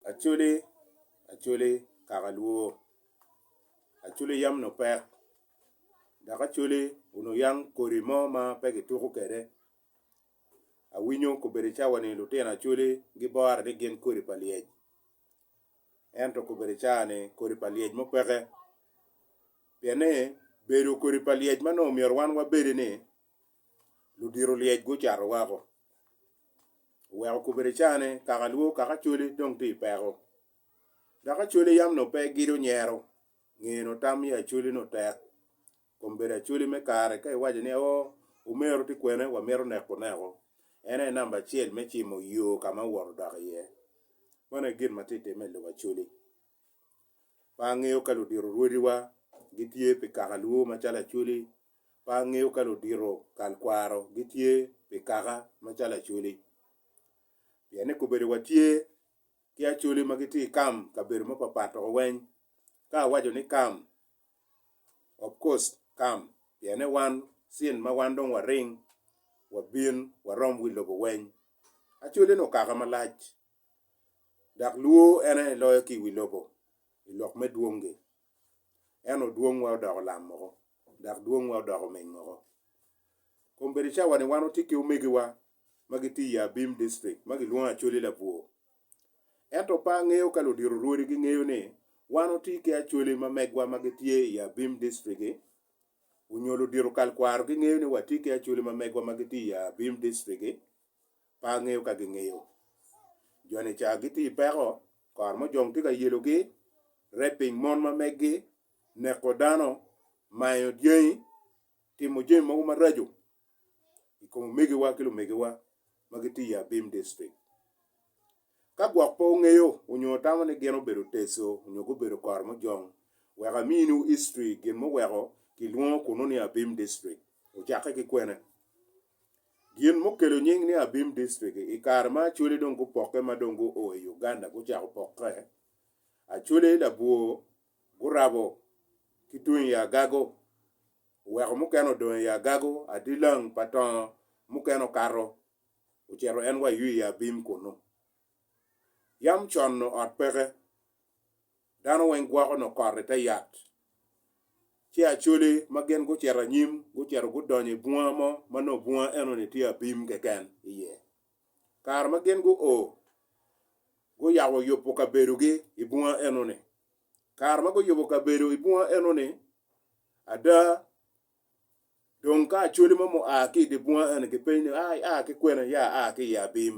Acholi acholi kaka lwor, acholi yam onongo pek dok acholi onongo yang kodi mo ma pe kituko kwede awinyo kobedi cawa ni lutino acholi gibore ni gin kodi pa lyec ento kobedi cawa ni kodi pa lyec mo peke pien ni bedo kodi pa lyec ma onongo myero wan wabedi ni ludito lyec gucato wako. Oweko kobere cane kaka lwor kaka cwale dong tye i peko. Dok acwale yam nongo pe gido nyero, ngeye nongo tam me acwale nongo tek. Kom bedo acwale me kare ka iwaco ni oo omero tye kwene wamito neko oneko, en aye namba acel me cimo yo ka ma owoto odok iye. Meno aye gin ma tye ka timme i lobo acwale. Pe angeyo ka ludito rwodiwa gitye pi kaka lwor macalo acwale. Pe angeyo ka ludito kal kwaro gitye pi kaka macalo Acholi. Pien ni kobedo wa tye ki Acholi ma gitye ikam kabedo ma papat doko weny ka awaco ni kam, of course kam pien ni wan cin ma wan dong waring wabin warom wi lobo weny. Acholi ni okaka malac dok luo en aye loyo ki iwi lobo ilok me dwongi. ento dwongwa odoko lam moko, dok dwongwa odoko omeng moko. Kom bedo cawani wan watye ki omegiwa ma gitye i Abim District ma gilwongo Acholi Labwor. Ento pe angeyo ka ludito rwodi gingeyo ni wan watye ki Acholi ma megwa ma gitye i Abim District-ki, onyo ludito kal kwaro gingeyo ni watye ki Acholi ma megwa ma gitye i Abim District-ki. pe angeyo ka gingeyo. Joni ca gitye i peko, kor mujong tye ka yelogi, raping mon ma meggi, neko dano, mayo dyangi, timo jami mogo maraco i kom omegiwa ki lumegiwa ma gitye i Abim district. Ka gwok pe wungeyo nyo wutamo ni gin obedo teco nyo gubedo kor mujong, wek aminiwu history gin muweko kilwongo kunu ni Abim district. Ocakke ki kwene? Gin mukelo nying ni Abim District, i kare ma Acholi dong gupokke ma dong guo i Uganda gucako pokke, Acholi labwor gurabo ki tung i Agago, oweko mukene odong i Agago, Adilang, Patongo, mukene okato ocito en wa ywi i Abim kunnu. Yam con-nu ot peke. Dano weng gwoko nongo kot i te yat. Ci Acoli ma gin gucito anyim, gucito gudonyo i bunga mo ma nongo bunga eno-ni tye abim keken iye. Kare ma gin guo, guyabo yubo kabedogi i bunga eno-ni. Kare ma guyubo kabedo i bunga eno-ni, ada Dong ka acholi mo mua ki i dye bunga eno gipenyo ni, ai, aa ki kwene? Ya, aa ki i abim.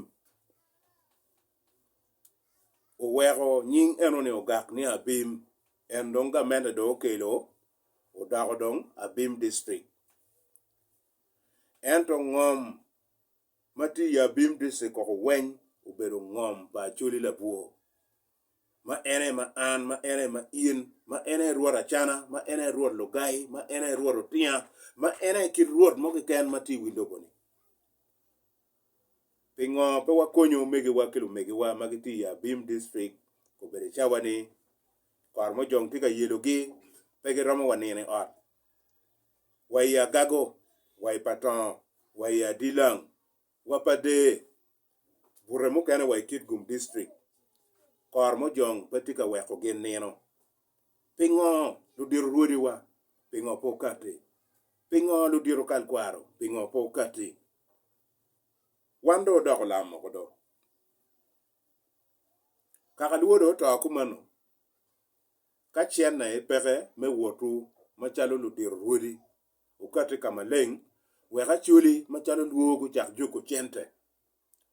Oweko nying eno-ni ogak ni Abim. En dong gamente dong okelo odoko dong Abim District. Ento ngom. ma tye i Abim District koko weng obedo ngom pa Acholi Labwor, ma en aye ma an, ma en aye ma in, ma en aye Rwot Acana, ma en aye Rwot Lugai, ma en aye Rwot Otinga, ma en aye kit Rwot mo keken ma tye i wi lobo-ni. Pingo pe wakonyo omegiwa ki lumegiwa ma gitye i Abim District kobedo cawa ni kor mojong tye ka yelogi, pe giromo wa nino i ot, wa i agago wa i patongo wa i adilang wa pa dee bute mukene wa i Kitgum District kor mojong pe tye ka weko gin nino pingo ludito rwodi wa pingo pe okati pingo ludito kal kwaro pingo pe okati wan do odoko lam moko do kaka lwodo oto kumeno Ka cente aye peke me wotwu macalo ludiro rwodi, wukati ka maleng wek Acholi macalo lwor gucak juko cente,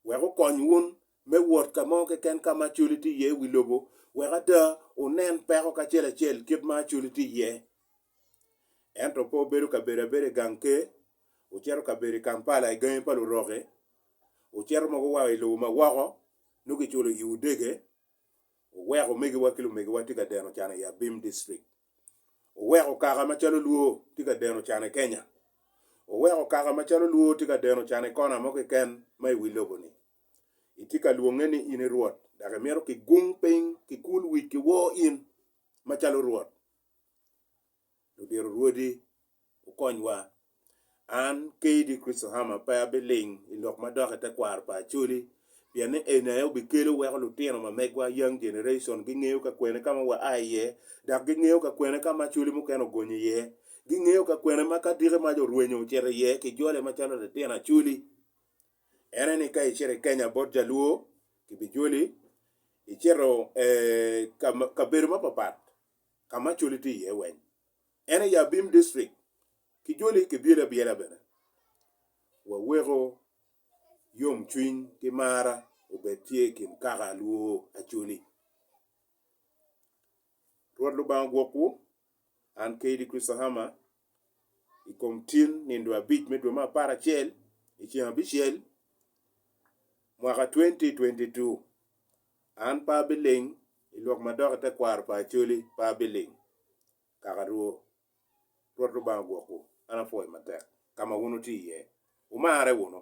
wek okony wun me wot ka mo keken ka ma Acholi tye iye i wi lobo, wek ada wunen peko kacel acel kit ma Acholi tye iye. Ento pe wubedo kabedo abeda i gang ker, wucito kabedo i Kampala i gangi pa luroki, wucito mogo wa i lobo ma woko, nongo kiculo iwu dege. Oweko omegiwa ki lumegiwa tye ka deno can i Abim District. Oweko kaka macalo Luo tye ka deno can i Kenya. Oweko kaka macalo Luo tye ka deno can i kona mo keken ma i wi lobo ni. Itye ka lwonge ni in i Rwot dok imito kigung piny, kikul wic ki wor in macalo Rwot. ludito rwodi wukonywa. An, Kayde Christohama, pe abiling i lok madok i tekwaro pa Acholi pien ni eni aye obikelo weko lutino ma megwa, young generation, gingeyo ka kwene ka ma waa iye dok gingeyo ka kwene ka ma Acholi mukene ogonyo iye. Gingeyo ka kwene ma ka diki mac orwenyo ocito iye kijole macalo litino Acholi. En aye ni ka icito i Kenya bot Jaluo kibijoli, icito kabedo mapapat. ka ma coli tye iye weng. En aye abim district ki joli kibyelo abyela bene. Waweko yomcwiny ki mara obed tye i kin kaka alwo acoli. Rwot Lubanga ogwokwu, an Kaydi Christahama, i kom tin nindo abic me dwe me apar acel i ceng abicel mwaka 2022. An pe abiling i lok ma dok i tekwaro pa Acholi pe abiling. Kaka Rwo, Rwot Lubanga ogwokwu, an apwoyo matek ka ma wun wutye iye. Wumarre wunu.